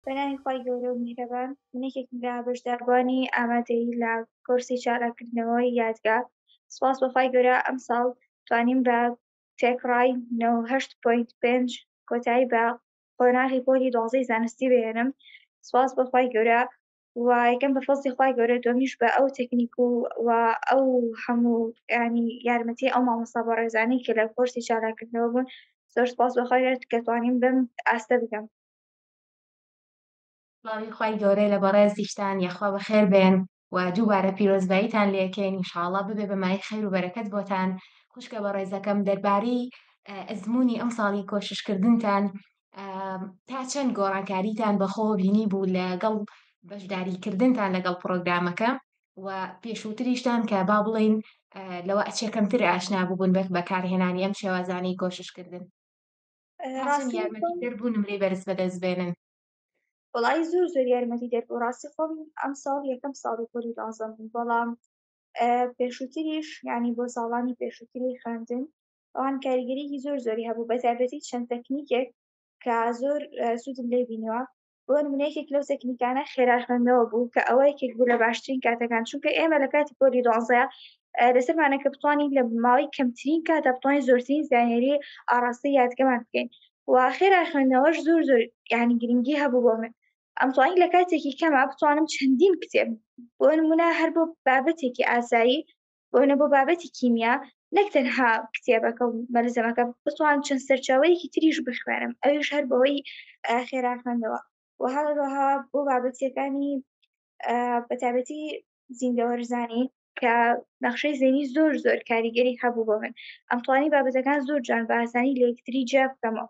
پەناهی خوای گەورە و میهرەبان من یەکێکم لە بەشداربووانی ئامادەیی لە کۆرسی چالاککردنەوەی یادگا سوپاس بە خوای گەورە ئەمساڵ توانیم بە تێکڕای نەوەد و هەشت پۆینت پێنج کۆتایی بە قۆناغی پۆلی دوازدەی زانستی بهێنم سوپاس بە خوای گەورە و یەکەم بە فەزڵی خوای گەورە دووەمیش بە ئەو تەکنیک و و ئەو هەموو یانی یارمەتی ئەو مامۆستا بەڕێزانەی کە لە کۆرسی چالاککردنەوە بوون زۆر سوپاس بە خوای گەورە کە توانیم بەم ئاستە بگەم. سڵاوی خوای گەورە لە بەڕێزیشتان یەخوا بەخێر بێن و دووبارە پیرۆزباییتان لێ کەین انشاءاللە ببێ بە مایەی خەیر و بەرەکەت بۆتان خوشکە بەڕێزەکەم دەربارەی ئەزموونی ئەمساڵی کۆششکردنتان تا چەند گۆڕانکاریتان بەخۆوە بینی بوو لەگەڵ بەشداریکردنتان لەگەڵ پرۆگرامەکە و پێشووتریشتان کە با بڵین لەوە ئەچێ کەمتر ئاشنا بوون بەکارهێنانی ئەم شێوازانەی کۆششکردن ڕاستم یارمەتی دەربوو نمرەی بەرز بەدەست بێنن وڵی زۆر زۆر یارمەتی دەربوو ڕاستی خۆم ئەم ساڵ یەکەم ساڵی پۆلی دازم بەڵام پێشووتریش ینی بۆ ساڵانی پێشووتری خوێندن ئەوان کاریگەریی زۆر زۆری هەبوو بەتابەتی چەند تەکنیکێک کە زۆر سوودم لێ بینەوە بۆ نموونە یەکێک لەو تەکنیکانە خێرا خوێندنەوە بوو کە ئەوە یەکێک بوو لە باشترین کاتەکان چونکە ئێمە لە کاتی پۆلی دوازدە لەسەرمانە کە بتوانین لە ماوەی کەمترین کاتا بتوانین زۆرترین زانیاری ئاڕاستەی یادگەمان بکەین و خێرا خوێندنەوەش زۆر زۆر یعنی گرنگی هەبوو بۆ من ئەمتوانی لە کاتێکی کەما بتوانم چەندین کتێب بۆ نمونە هەر بۆ بابەتێکی ئاسایی بۆنە بۆ بابەتی کیمیا نەک تەنها کتێبەکە و مەلزەمەکە بتوان چەند سەرچاوەیەکی تریش بخوێنم ئەویش هەر بەوەی خێرا خوێندەوە و هەروەها بۆ بابەتیەکانی بەتابەتی زیندەوەرزانی کە نەخشەی زێنی زۆر زۆر کاریگەری هەبوو بۆ من ئەمتوانی بابەتەکان زۆر جوان باسانی لە یەکتری جیا بکەمەوە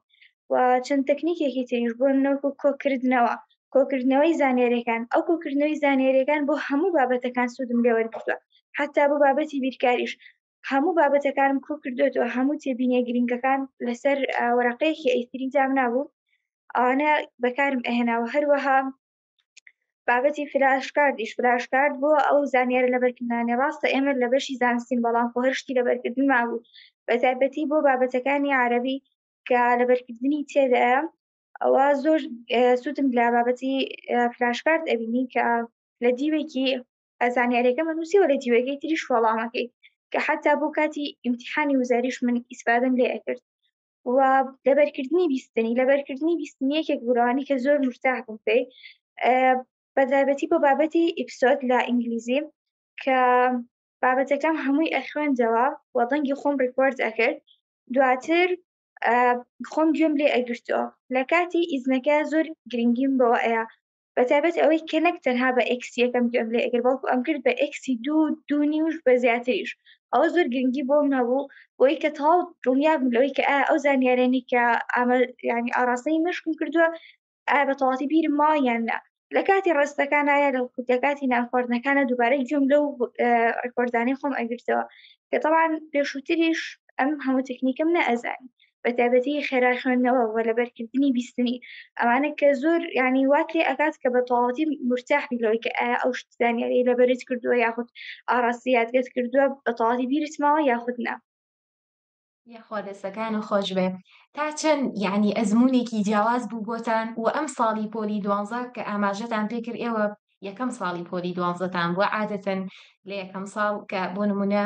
و چەند تەکنیکێکی تریش بوون نەوەکو کۆکردنەوە کۆکردنەوەی زانیاریەکان ئەو کۆکردنەوەی زانیاریەکان بۆ هەموو بابەتەکان سوودم لێ وەرگتووە حتا بۆ بابەتی بیرکاریش هەموو بابەتەکانم کۆ کردوێتەوە هەموو تێبینیە گرنگەکان لەسەر وەرەقەیەکی ئەیتری دام نابوو ئەوانە بەکارم ئەهێناوە هەروەها بابەتی فراشکاردیش فراشکارد بۆ ئەو زانیارە لە بەرکردانی ڕاستە ئێمە لە بەشی زانستین بەڵام خۆهرشتی لە بەرکردن مابوو بە تایبەتی بۆ بابەتەکانی عربی کە لەبەرکردنی تێدایە ئەوە زۆر سوودم لە بابەتی فلاشکارد ئەبینی کە لە دیوێکی ئەزانیارەکە مەنووسیەوە لە دیوەکەی تریش وەڵامەکەی کە حتا بۆ کاتی ئیمتحانی وزاریش من ئیسپادم لێ ئەکرد و لەبەرکردنی بیستنی لەبەرکردنی بیستنی یەکێک گورانی کە زۆر مرتاح بووم پێی بەدابەتی بۆ بابەتی ئیپسۆد لە ئینگلیزی کە بابەتەکەم هەمووی ئەخوێندەوە و دەنگی خۆم ڕیکۆرد ئەکرد دواتر خۆم گوێم لێ ئەگرتەوە لە کاتی ئیزنەکە زۆر گرنگیم بەوە ئەیە بە تابەت ئەوەی کە نەک تەنها بە ئەکسیەکەم گوێم لێ ئەگر بەڵکو ئەم کرد بە ئەکسی دوو دوونی وش بە زیاتریش ئەوە زۆر گرنگی بۆ منەبوو بۆی کە تەواو دڵنیابم لەوەی کە ئەو زانیارێنی کە ئەمە ینی ئاراستەی مشکم کردووە ئایا بە تەواتی بیرم ماوە یان نا لە کاتی ڕستەکان ئایا لە لە کاتی نانخواردنەکانە دووبارەی گوێم لەو ڕکۆردانەی خۆم ئەگرتەوە کە تەوان پێشووتریش ئەم هەموو تەکنیکم نەئەزانی بە تایبەتی خێرا خوێندنەوە وە لەبەرکردنی بیستنی ئەمانە کە زۆر ینی وات لێ ئەکات کە بە تەواتی مرتاحی لەوەی کە ئایا ئەو شتزانیاری لەبەرت کردووە یاخود ئاڕاستی یادگەت کردووە بە تەواتی بیرتماوە یاخود نا یاخوا دەستەکانو خۆشبێ تا چەن یەعنی ئەزمونێکی جیاواز بوو بۆتان وە ئەم ساڵی پۆلی دوانزە کە ئاماژەتان پێ کرد ئێوە یەکەم ساڵی پۆلی دوانزەتان بووە عادەتەن لە یەکەم ساڵ کە بۆ نمونە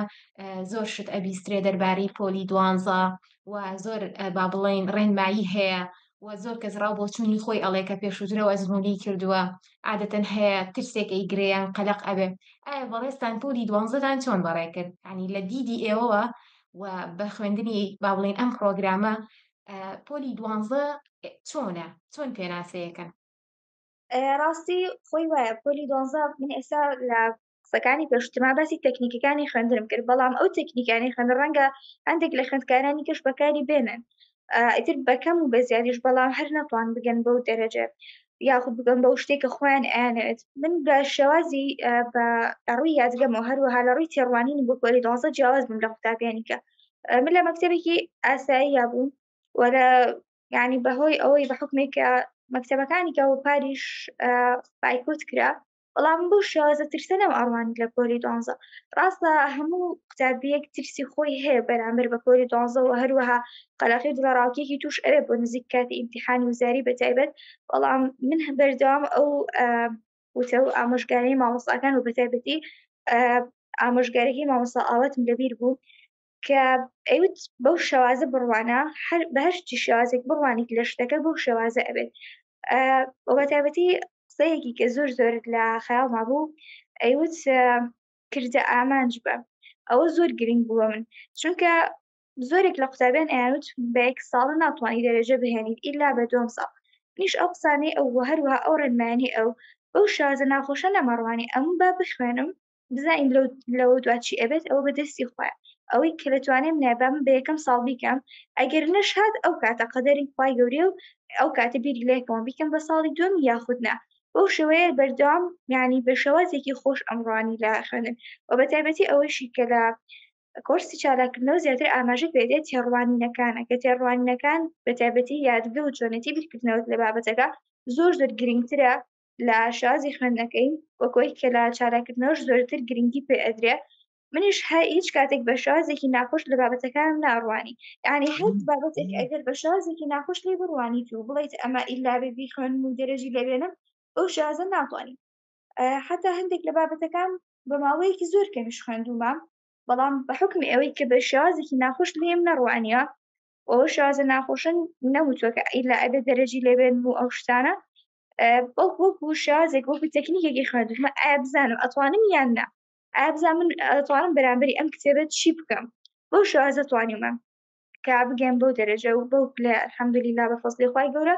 زۆر شت ئەبیسترێ دەربارەی پۆلی دوانزە و زۆر با بڵێین ڕێنمایی هەیە و زۆر کەس ڕاو بۆچوونی خۆی ئەڵێ کە پێشوترەوە ئەزمونی کردووە عادەتەن هەیە ترسێک ئەی گرێیان قەلەق ئەبێ ئایا بەڕێزتان پۆلی دوانزەتان چۆن بەڕێ کرد ینی لە دیدی ئێوەوە و بە خوێندنی با بڵێن ئەم پرۆگرامە پۆلی دوانزە چۆنە چۆن پێناسەیەکەن ڕاستی خۆی وایە پۆلی دۆزە من ئێستا لە قسەکانی پێشتما باسی تەکنیکەکانی خوێندرم کرد بەڵام ئەو تەکنیکانی خوێن ڕەنگە هەندێک لە خوێندکارانی کەش بەکاری بێنن ئیتر بەکەم و بە زیادیش بەڵام هەر نەتوان بگەن بەو دەرەجە یاخود بگەم بەو شتێک کە خۆیان ئەیانەوێت من بە شێوازی بە ڕووی یادگەمەوە هەروەها لە ڕووی تێڕوانینی بۆ پۆلی دۆزە جیاواز بووم لە قوتابیانی کە من لە مەکتتەبێکی ئاسایی یا بووم وەرە ینی بەهۆی ئەوەی بە حکمێکە مەکتتەبەکانی کە و پاریش پایکوت کرا بەڵام بەو شێوازە ترسە نەم ئەڕوانی لە پۆلی دوانزە ڕاستە هەموو قوتابیەک ترسی خۆی هەیە بەرامبەر بە پۆلی دوانزە و هەروەها قەلەقی دڵەڕاوکێکی توش ئەوێ بۆ نزیک کاتی ئیمتیحانی وزاری بەتایبەت بەڵام من هە بەردەوام ئەو وتە و ئامۆژگاری مامۆستاکان و بەتایبەتی ئامۆژگارەکەی مامۆستا ئاواتم لەبیر بوو کە ئەیوت بەو شێوازە بڕوانە هەر بە هەر چی شێوازێک بڕوانیت لە شتەکە بەو شێوازە ئەبێت آه، و بە تایبەتی قسەیەکی کە زۆر زۆر لە خەیاڵما بوو ئەیوت آه، کردە ئامانج بە ئەوە زۆر گرنگ بووە من چونکە زۆرێک لە قوتابیان ئەیانوت بە یەک ساڵە ناتوانانی دەرەجە بهێنیت ئیلا بە دوم ساڵ نیش ئەو قسانەی ئەو وە هەروەها ئەو ڕێنمانی ئەو بەو شازە ناخۆشە نەمەڕوانی ئەم با بخوێنم بزانین لەو لەوە دوا چی ئەبێت ئەوە بە دەستی خۆیان ئەوەی کە لەتوانێ منە بەم بە یەکەم ساڵ بیکەم ئەگەر نەشهات ئەو کاتە قەدەری خوای گەورەیە و ئەو کاتە بیری لەکەمەوە بیکەم بە ساڵی دوم یاخود نا بەو شێوەیە بەردەوام یعنی بە شێوازێکی خۆش ئەمڕوانی لە خوێندن و بە تایبەتی ئەوەیشی کە لە کۆرسی چالاکردنەوە زیاتر ئاماژە پێدێت تێڕوانینەکانە کە تێڕوانینەکان بە تایبەتی یادگە و چۆنێتی بیرکردنەوەت لە بابەتەکە زۆر زۆر گرنگترە لە شازی خوێندنەکەی وە کۆی کە لە چالاکردنەوەش زۆرتر گرنگی پێ ئەدرێ منیش هە هیچ کاتێک بە شازێکی ناخۆش لە بابەتەکانم ناڕوانی یعنی هەر بابەتێک ئەگەر بە شازێکی ناخۆش لێ بڕوانیت و بڵیت ئەمە ئیلا بێ بیخوێنم و دەرەجی لێبێنم ئەو شازە ناتوانانی حتا هەندێک لە بابەتەکان بە ماوەیەکی زۆر کەمیش خوێندومە بەڵام بە حکم ئەوەی کە بە شازێکی ناخۆش لێم نەڕوانیە ئەو شازە ناخۆشن نەوتوەکە ئیلا ئەبێ دەرەجی لێبێنم و ئەو شتانە بەڵک وەک و شازێک وەکو تەکنیکێکی خوێندمە ئایا بزانم ئەتوانم یان نا ئایا بزان من ئەتوانم بەرامبەری ئەم کتێبێت چی بکەم بەو شازە توانیمە کە بگەم بەو دەرەجە و بەو لە حەمدلی لا بە فەستی خی گەورە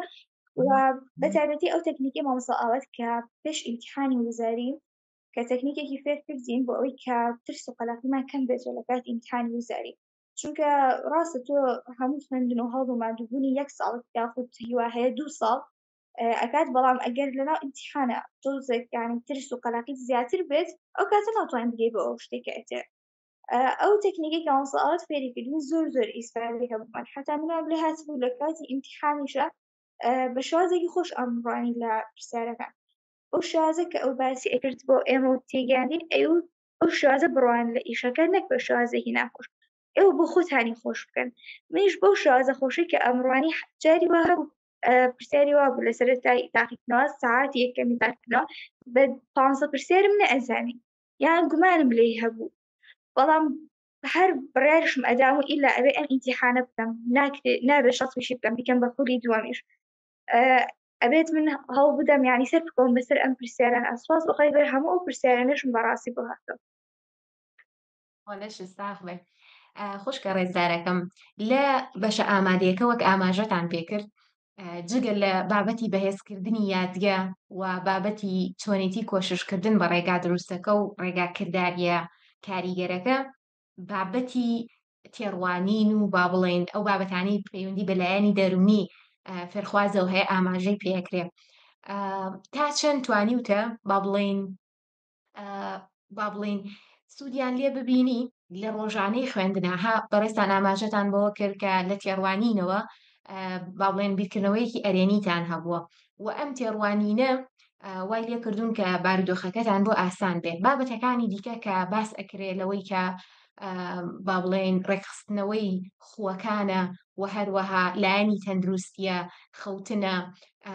و بەتابەتی ئەو تەکنیکی مامەسا ئاوات کە پێش ئیمتحانی وزاری کە تەکنیکێکی فێر کردین بۆ ئەوی کە ترس و قەلاقیمان کەم بێت لە کات ئیمتحانی وزاری چونکە ڕاستە تۆ هەموو خوێندن و هەڵ و مادووبوونی یەک ساڵ یاخود هیوا هەیە دوو ساڵ ئەکات بەڵام ئەگەر لەناو ئیمتیحانا تۆزێک یانی ترس و قەلەقیت زیاتر بێت ئەو کاتە ناتوانین بگەی بۆ ئەو شتێک کە ئەتێ ئەو تەکنیکی کە مامۆستا ئاوات فێری کردین زۆر زۆر ئیسفادەی هەبوومان حەتا منیان لێ هاتبوو لە کاتی ئیمتیحانیشە بە شازێکی خۆش ئەمڕوانی لە پرسیارەکان ئەو شازە کە ئەو باسی ئەکرد بۆ ئێمە و تێگەیاندین ئەو ئەو شازە بڕوان لە ئیشەکە نەک بە شازێکی ناخۆش ئێوە بۆ خۆتانی خۆش بکەن منیش بەو شازە خۆشی کە ئەمڕوانی جاری وا هەبوو پرسیاری وا بوو لە سەرەتای تاقیکردنەوە ساعت یەکەمی تاقیکردنەوە بە پانزە پرسیارم نەئەزانی یان گومانم لێی هەبوو بەڵام هەر بڕارشم ئەدام و ئیلا ئەوێ ئەم ئینتیحانە بکەم ناکرێت نابێت شەڵتوشی بکەم بیکەم بە خولی دووەمیش ئەبێت من هەڵ بدەم ینی سەر بکۆم بەسەر ئەم پرسیاران ئەسواز بەخوای بەر هەموو ئەو پرسیارانەشم بەڕاستی بۆ هاتەوە لەش ساخ بێ خوشکە ڕێزدارەکەم لە بەشە ئامادەیەکە وەک ئاماژەتان پێکرد جگە لە بابەتی بەهێزکردنی یادگە و بابەتی چۆنێتی کۆششکردن بە ڕێگا دروستەکە و ڕێگا کردداریە کاریگەرەکە بابەتی تێڕوانین و با بڵێن ئەو بابەتانی پەیوەندی بەلایەنی دەرونی فێرخوازەوە هەیە ئاماژەی پێکرێ تا چەند توانیوتە با بڵین با بڵین سوودیان لێ ببینی لە ڕۆژانەی خوێندناها بەڕێستان ئاماژەتان بەوە کرد کە لە تێڕوانینەوە با بڵێن بیرکردنەوەیەکی ئەرێنیتان هەبووە و ئەم تێڕوانینە وای لێ کردوون کە بارودۆخەکەتان بۆ ئاسان بێت بابەتەکانی دیکە کە باس ئەکرێ لەوەی کە با بڵێن ڕێکخستنەوەی خوەکانە و هەروەها لایەنی تەندروستە خەوتنە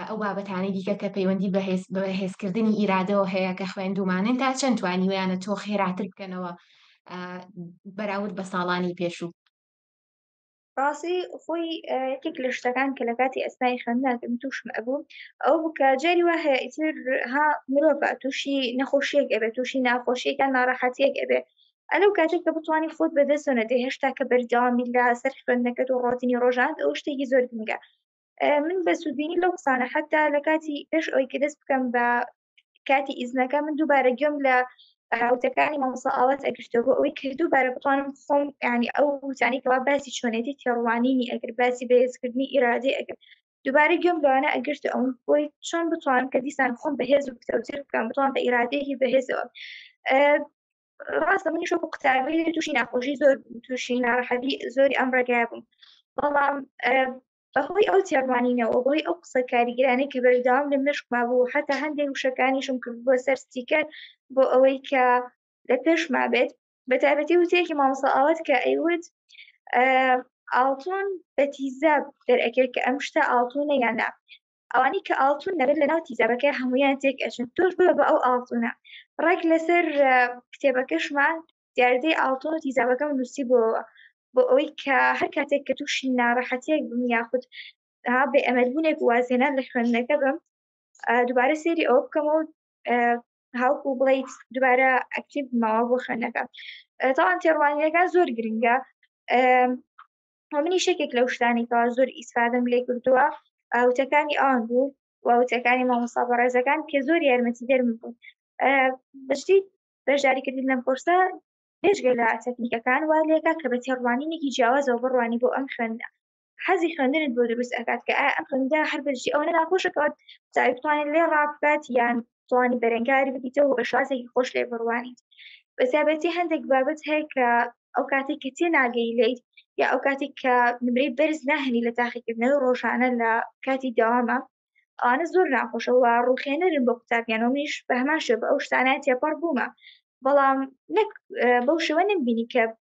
ئەو بابەتانەی دیکە کە پەیوەندی بە هێز بە هێزکردنی ئیرادەوە هەیە کە خوێندومانن تا چەند توانیویانە تۆ خێراتر بکەنەوە بەراورد بە ساڵانی پێشوو ڕاستی خۆی یەکێک لە شتەکان کە لە کاتی ئەسنای خوێندناکەم تووشم ئەبوو ئەو بکە جاری وا هەیە ئیتر ها مرۆڤ تووشی نەخۆشیەک ئەبێت تووشی ناخۆشیەکان ناڕەحەتیەک ئەبێت ئەلو کاتێک کە بتوانانی خۆت بەدەستۆنە دێ هێشتا کە بەردەوامی لە سەر خوێندنەکەت و ڕۆتینی ڕۆژان ئەو شتێکی زۆر گرنگە من بە سوودبینی لەو قسانە حتا لە کاتی پێش ئەوی کە دەست بکەم بە کاتی ئیزنەکە من دووبارە گوێم لە وتەکانی مامۆسا ئاوات ئەگشتە بۆ ئەوەی کە دووبارە بتوانم خۆم ینی ئەو وتانی کەوا باسی چۆنێتی تێڕوانینی ئەگر باسی بەهێزکردنی ئیرادی ئەگەر دووبارە گوێم لەوانە ئەگشت ئەو بۆی چۆن بتوان کە دیسان خۆم بەهێز و پتەوتر بکەم بتوان بە ئیرادەیەکی بەهێزەوە ڕاستە منیش وەکو قوتابی تووشی ناخۆشی زۆر تووشی ناڕەحەتی زۆری ئەم ڕێگای بووم بەڵام بەهۆی ئەو تێڕوانینەوە بۆی ئەو قسە کاریگرانی کە بەردەوام لە مشکما بوو حتا هەندێک وشەکانیشم کرد بۆ سەر سیکەر بۆ ئەوەی کە لە پێشما بێت بە تابەتی وتێکی مامۆسا ئاوات کە ئەیوت ئاڵتون بە تیزاب دەرەکێت کە ئەم شتە ئاڵتونە یانە ئەوانەی کە ئاڵتون دەبێت لە ناو تیزابەکە هەمویان تێک ئەچن تۆش بە بە ئەو ئاڵتونە ڕێک لەسەر کتێبەکەشمان دیاردەی ئاڵتۆن و تیزابەکەم نووسی بۆەوە بۆ ئەوەی کە هەر کاتێک کە تووشی ناڕەحەتێک بم یاخود بێ ئەمەلبوونێک وازێنە لە خوێندنەکە بم دووبارە سێری ئەو بکەمەوە هاوکو بڵیت دووبارە ئەکتیب ماوە بۆ خوێندنەکە تاوان تێڕوانینەکە زۆر گرنگە و منیش یەکێک لەو شتانەی کەوا زۆر ئیسفادەم لێ کردووە وتەکانی ئەوان بوو و وتەکانی مامۆستا بەڕێزەکان کە زۆر یارمەتیدەرم بوون بەجدی بەشداریکردن لەم کۆرسە بێژگە لە تەکنیکەکان وا لێکا کە بە تێڕوانینێکی جیاوازەوە بڕوانی بۆ ئەم خوێندە حەزی خوێندنت بۆ دروست ئەکات کە ئەم خوێندا هەر بەجدی ئەوەنە ناخۆشەکەوت چاوی بتوانێت لێ ڕابکات یان توانی بەرەنگاری ببیتەوە بە شازێکی خۆش لێ بڕوانیت بەتابەتی هەندێک بابەت هەیە کە ئەو کاتێک کە تێ ناگەی لیت یا ئەو کاتێک کە نمرەی بەرز ناهێنی لە تاقیکردنەوەی ڕۆژانە لە کاتی داوامە ئەوانە زۆر ناخۆشەوە ڕوخێنەرن بۆ قوتابیانەوە منیش بە هەمان شێ بە ئەو شتانە تێپەڕ بوومە بەڵام نەک بەو شێوە نمبینی کە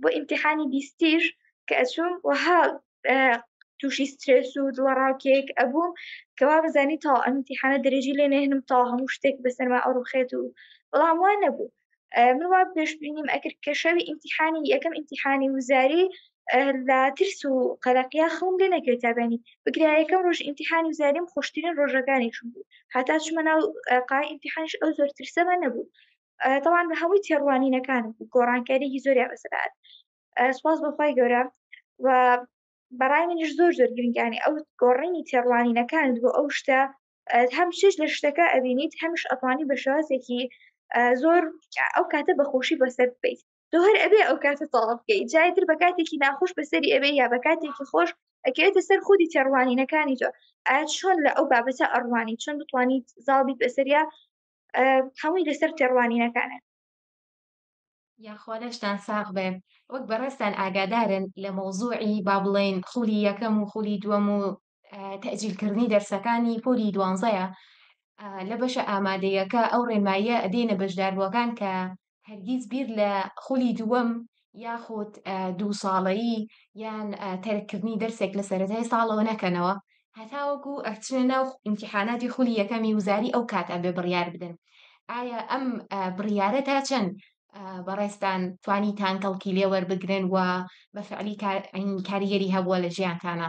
بۆ ئیمتیحانی بیستیش کە ئەچووم وەها تووشی سترێس و دڵەڕاوکێک ئەبووم کەوا بزانی تا ئەمتیحانە دەرێژی لێ نێنم تا هەموو شتێک بەسەرما ئەڕوخێت و بەڵام وان نەبوو من وا پێشبینیم ئەکرد کە شەوی ئیمتیحانی یەکەم ئیمتیحانی وزاری لە ترس و قەلەقیا خەوم لێ نەکرێت تابێنی بگرایەکەم ڕۆژ ئیمتیحانی وزاریم خۆشترین ڕۆژەکانیشم بوو هاتا چمە ناو قای ئیمتیحانش ئەو زۆر ترسەمە نەبوو تەوان بە هەمووی تێڕوانینەکان گۆڕانکاریی زۆریان بەسەدات سپاس بەخوای گەورە و بەڕای منیش زۆر زۆر گرنگیانی ئەو گۆڕینی تێڕوانینەکانت بۆ ئەو شتە هەم چش لە شتەکە ئەبینیت هەمیش ئەتوانی بە شێوازێکی زۆر ئەو کاتە بەخۆشی بەسەر بیت تۆ هەر ئەبێ ئەو کاتە تەواو بکەیت جای تر بە کاتێکی ناخۆش بەسەری ئەبێ یا بە کاتێکی خۆش ئەکەوێتە سەر خودی تێڕوانینەکانی تۆ ئایا چۆن لە ئەو بابەتە ئەڕوانی چۆن بتوانیت زاڵ بیت بەسەریا هەمووی لەسەر تێڕوانینەکانە یاخوا لەشتان ساغ بێ وەک بەڕێستان ئاگادارن لە مەوزوعی با بڵێن خولی یەکەم و خولی دووەم و تەجیلکردنی دەرسەکانی پۆلی دوانزەیە لە بەشە ئامادەیەکە ئەو ڕێنماییە ئەدەینە بەشداربووەکان کە هەرگیز بیر لە خولی دووەم یاخود دوو ساڵەیی یان تەرککردنی دەرسێک لە سەرەتای ساڵەوە نەکەنەوە هەتاوەکو ئەچنە ناو ئیمتیحاناتی خولی یەکەمی وزاری ئەو کات ئەبێ بڕیار بدەن ئایا ئەم بڕیارە تا چەند بەڕێستان توانی تانکەڵکی لێوەربگرن و بە فعلی کاریگەری هەبووە لە ژیانتانە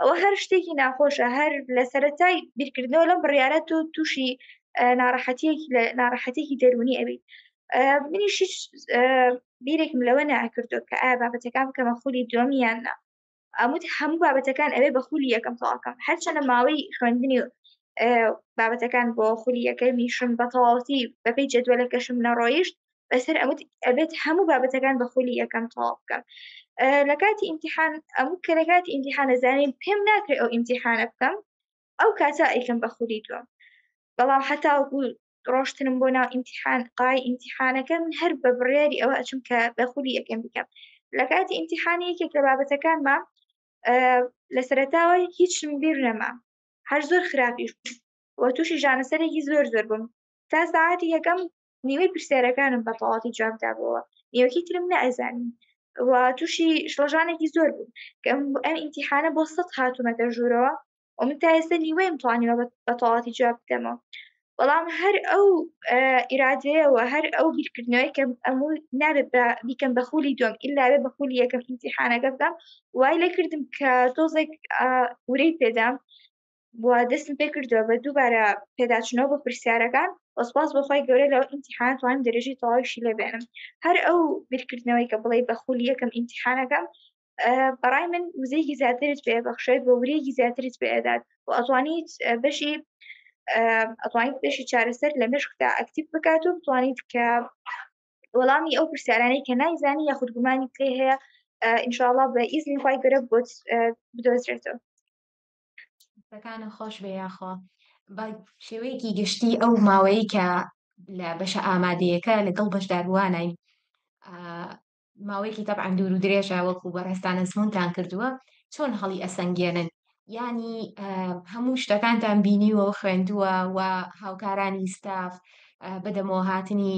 ئەوە هەر شتێکی ناخۆشە هەر لە سەرەتای بیرکردنەوە لەم بڕیارە تۆ تووشی ناڕەحەتیەکی لە ناڕەحەتێکی دەرونی ئەویت منیش هیچ بیرێکم لەوە ناکردو کە ئایا بابەتەکان بکەمە خولی دومیان نا ئەموت هەموو بابەتەکان ئەوێ بە خولی یەکەم تەواکەم هەرچەنە ماوەی خوێندنی بابەتەکان بۆ خولی یەکەمیشم بە تەواوەتی بەپی جدووە لە کەشم نەڕۆیشت بەسەر ئەوت ئەبێت هەموو بابەتەکان بە خولی یەکەم تەواو بکەم لە کاتی ئیمتحان ئەموو کە لە کاتی ئیمتحانە زانین پێم ناکرێت ئەو ئیمتحانە بکەم ئەو کاتە ئەیکەم بە خولی دووەم بەڵام حتا ڕۆشتنم بۆ ناو ئیمتحان قای ئیمتحانەکە من هەر بە بڕیاری ئەوە ئەچم کە بە خولی یەکەم بکەم لە کاتی ئیمتحانی یەکێک لە بابەتەکانمە لە سەرتاوە هیچم بیر نەما هەر زۆر خراپیش وە تووشی ژانەسەرێکی زۆر زۆر بووم تا ساعتی یەکەم نیوەی پرسیارەکانم بە تەواوەتی جواب دابووەوە نیوەکی ترم نەئەزانی و تووشی شڵەژانێکی زۆر بووم کە ئەم ئیمتیحانە بۆ سەد هاتوومەتە ژوورەوە و من تا ئێستا نیوەیم توانیوە بە تەواوەتی جواب بدەمەوە بەڵام هەر ئەو ئیرادەیەوە هەر ئەو بیرکردنەوەی کە ئەمو نابێت بە بیکەم بە خولی دوم ئللاێ بە خولی یەکەم ئیمتیحانەکە بدەم وای لێکردم کە تۆزێک ورەی پێدام و دەستم پێ کردووە بە دووبارە پێداچنەوە بۆ پرسیارەکان وە سپاس بۆ خوای گەورە لەو ئیمتیحانە توانیم دەرەجەی تەواویشی لێ بێنم هەر ئەو بیرکردنەوەی کە بڵێی بە خولی یەکەم ئیمتیحانەکەم بەڕای من وزەیەکی زیاترت پێ بەخشێت بۆ ورەیەکی زیاترت پێ ئەدات و ئەتوانیت بەشی ئەتوانیت بەشی چارەسەر لە مشکدا ئەکتیب بکات و بتوانیت کە وەڵامی ئەو پرسیارانەی کە نایزانی یاخود گومانی پێ هەیە ئینشاءڵا بە ئیزنی خی گەرە بۆت بدۆزرێتەوە دەستەکانت خۆش بێ یاخوا بە شێوەیەکی گشتی ئەو ماوەیە کە لە بەشە ئامادەیەکە لەگەڵ بەشداروانین ماوەیەکی تەبعەن دوور و درێژە وەکو بەڕێستانە زمونتان کردووە چۆن هەڵی ئەسەنگێنن ینی هەموو شتەکانتان بینیوە و خوێندووە و هاوکارانی ستاف بەدەمەوە هاتنی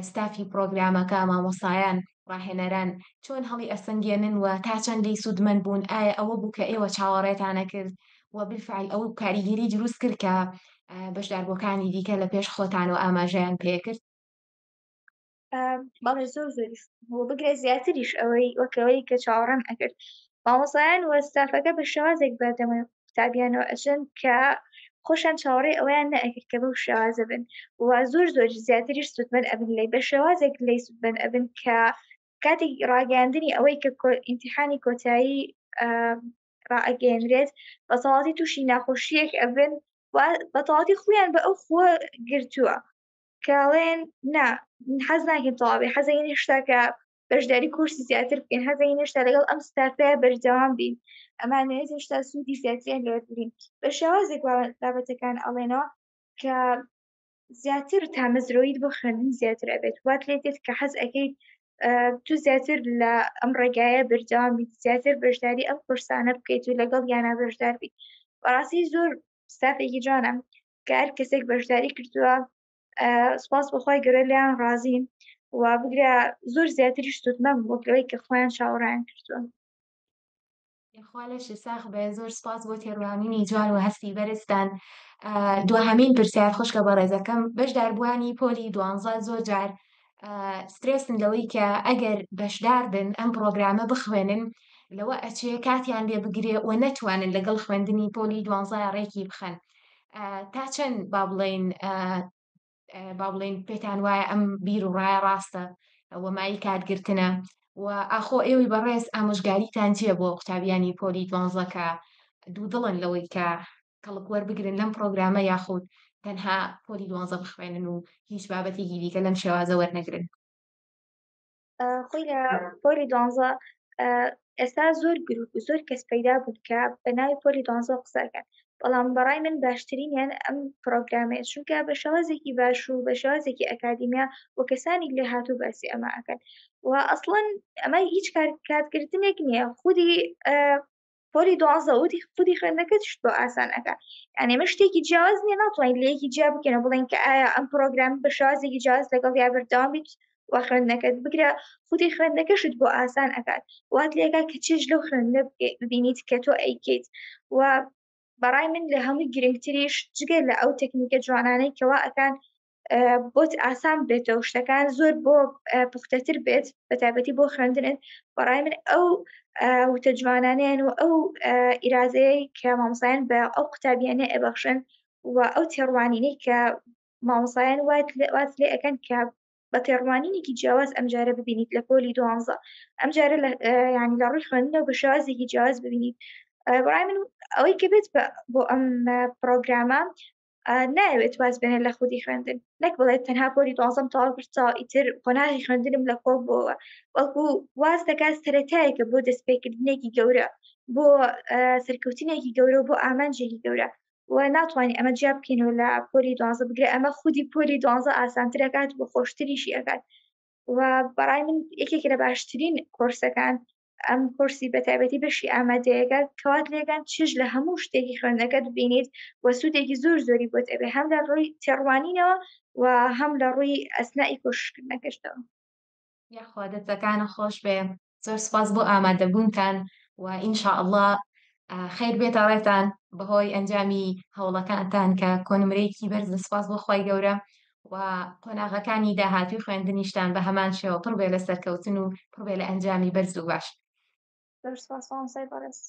ستافی پرۆگرامەکە مامۆسایان ڕاهێنەران چۆن هەڵی ئەسەنگێنن و تا چەند لێی سوودمەند بوون، ئایا ئەوە بوو کە ئێوە چاوەڕێتان ئەکرد و بالفعل ئەو کاریگەری دروست کرد کە بەشداربووەکانی دیکە لە پێش خۆتانەوە ئاماژەیان پێکرد؟ بەڵێ زۆر زۆریش بۆ بگرە زیاتریش ئەوەی وەکەوەی کە چاوەڕێم ئەکرد مامۆسایان وە ستافەکە بە شێوازێک بەردەمە قوتابیانەوە ئەچن کە خۆشان چاوەڕێ ئەویان نەئەکرد کە بەو شێوازە بن و زۆر زۆر زیاتریش سوودمەند ئەبن لی بە شێوازێک لی سوودمەند ئەبن کە کاتێک ڕاگەاندنی ئەوەی کە ئینتیحانی کۆتایی ڕائگەێنرێت بە تەواتی تووشی ناخۆشیەک ئەبن بە تەواتی خویان بە ئەو خۆ گرتووە کاڵێن نا حەز ناکەین تەواوی حەزەین هشتا کە بەشداری کورسی زیاتر بکەین هەزین هێشتا لەگەڵ ئەم ستارتە بەردەوام بین ئەمانەوێت هێشتا سوودی زیاتریان لەوە بگرین بە شێوازێک بابەتەکان ئەڵێنەوە کە زیاتر تامەزرۆیت بۆ خوێندن زیاتر ئەبێت وات لێ دێت کە حەز ئەەکەیت تو زیاتر لە ئەم ڕێگایە بەردەوام بیت زیاتر بەشداری ئەم قرسانە بکەیت و لەگەڵ یانە بەشدار بیت بەڕاستی زۆر ستافێکی جوانم کار کەسێک بەشداری کردووە سپاس بەخوای گەرە لیان ڕازیم و بگرە زۆر زیاتری شتوتمەم بۆکەوەی کە خۆیان چاوەڕیان کردوون خوا لەشی ساخ بێ زۆر سپاس بۆ تێڕوانینی جوان و هەستی بەرزتان دوهەمین پرسیار خوشکە بە ڕێزەکەم بەشداربووانی پۆلی دوانزە زۆر جار سترێسن لەوەی کە ئەگەر بەشدار بن ئەم پرۆگرامە بخوێنن لەوە ئەچێ کاتیان لێ بگرێ و نەتوانن لەگەڵ خوێندنی پۆلی دوانزای ڕێکی بخەن تا چەند با بڵین با بڵین پێتان وایە ئەم بیر و ڕایە ڕاستە وەمایی کاتگرتنە و ئاخۆ ئێوەی بەڕێز ئامۆژگاریتان چیە بۆ قوتابیانی پۆلی دوانزەکە دوو دڵن لەوەی کە کەڵک وەربگرن لەم پڕۆگرامە یاخود تەنها پۆلی دوانزە بخوێنن و هیچ بابەتێکی دیکە لەم شێوازە وەرنەگرن خۆی لە پۆلی دوانزە ئێستا زۆر گروپ و زۆر کەس پەیدا بوون کە بە ناوی پۆلی دانزۆ قسەکەن بەڵام بەڕای من باشترینیان ئەم پرۆگرامێ چونکە بە شێوازێکی باش و بە شێوازێکی ئەکادیمیا و کەسانی لێ هاتوو باسی ئەمە ئەەکەن و ئەسڵەن ئەمە هیچ کارکاتکردنێک نییە خودی پۆلی دوازدە وتی خودی خوێندنەکەت شت بۆ ئاسان ئەکا یعنی ئێمە شتێکی جیاواز نییە ناتوانین لە یەکی جیا بکەین و بڵێن کە ئایا ئەم پرۆگرام بە شازێکی جیاواز لەگەڵ یا بەردەوام بیت و خوێندنەکەت بگرە خودی خوێندنەکەشت بۆ ئاسان ئەکات وات لێکا کە چێژ لەو خوێندنە ببینیت کە تۆ ئەیکەیت و بەڕای من لە هەمووی گرنگتریش جگە لە ئەو تەکنیکە جوانانەی کەوا ئەکان بۆت ئاسان بێتەوە شتەکان زۆر بۆ پوختەتر بێت بە تایبەتی بۆ خوێندنت بەڕای من ئەو وتە جوانانیان و ئەو ئیرازەیە کە مامسایان بە ئەو قوتابیانە ئەبەخشن و ئەو تێڕوانینەی کە مامسایان وات واز لێ ئەەکەن کە بە تێڕوانینێکی جیاواز ئەمجارە ببینیت لە پۆلی دوانزە ئەمجارە ینی لە ڕووی خوێندنە بە شێوازێکی جیاواز ببینیت بڕای من ئەوەی کە بێت بۆ ئەم پرۆگرامە نایەوێت واز بێنە لە خودی خوێندن نەک بڵێت تەنها پۆری دوازم تەواو کرتا ئیتر قۆناغی خوێندنم لە کۆڵ بۆەوە وەڵکو واز دەکات سەتایەکە بۆ دەستپێکردنێکی گەورە بۆ سەرکەوتنێکی گەورە بۆ ئامانجێکی گەورە و ناتوانانی ئەمە جیا بکەینەوە لە پۆلی دوازە بگرە ئەمە خودی پۆلی دوازە ئاسانترەکات بۆ خۆشتریشی ئەکات و بەڕای من یەکێک لە باشترین کۆرسەکان ئەم کورسی بەتابەتی بەشی ئامادەیەگە کەوات لێگەن چش لە هەموو شتێکی خوێندنەکەت بینیت و سوودێکی زۆر زۆری بۆت ئەبێ هەم لە ڕووی تێڕوانینەوە و هەم لە ڕووی ئەسنائی کۆشکردنەکەشتەوە یاخوا دەستەکانە خۆش بێ زۆر سپاس بۆ ئامادەبوونتان و ئینشاء اللە خیر بێتە ڕێتان بەهۆی ئەنجامی هەوڵەکانتان کە کۆنمرەیەکی بەرز لە سپاس بۆ خی گەورە و قۆناغەکانی داهاتووی خوێندنیشتان بە هەمان شێوە پڕ بێ لە سەرکەوتن و پڕ بێ لە ئەنجامی بەرز و باش. زۆر سوپاس مامۆستای بەڕێز.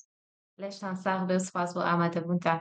لەشتان ساغ بێ و سوپاس بۆ ئامادەبوونتان.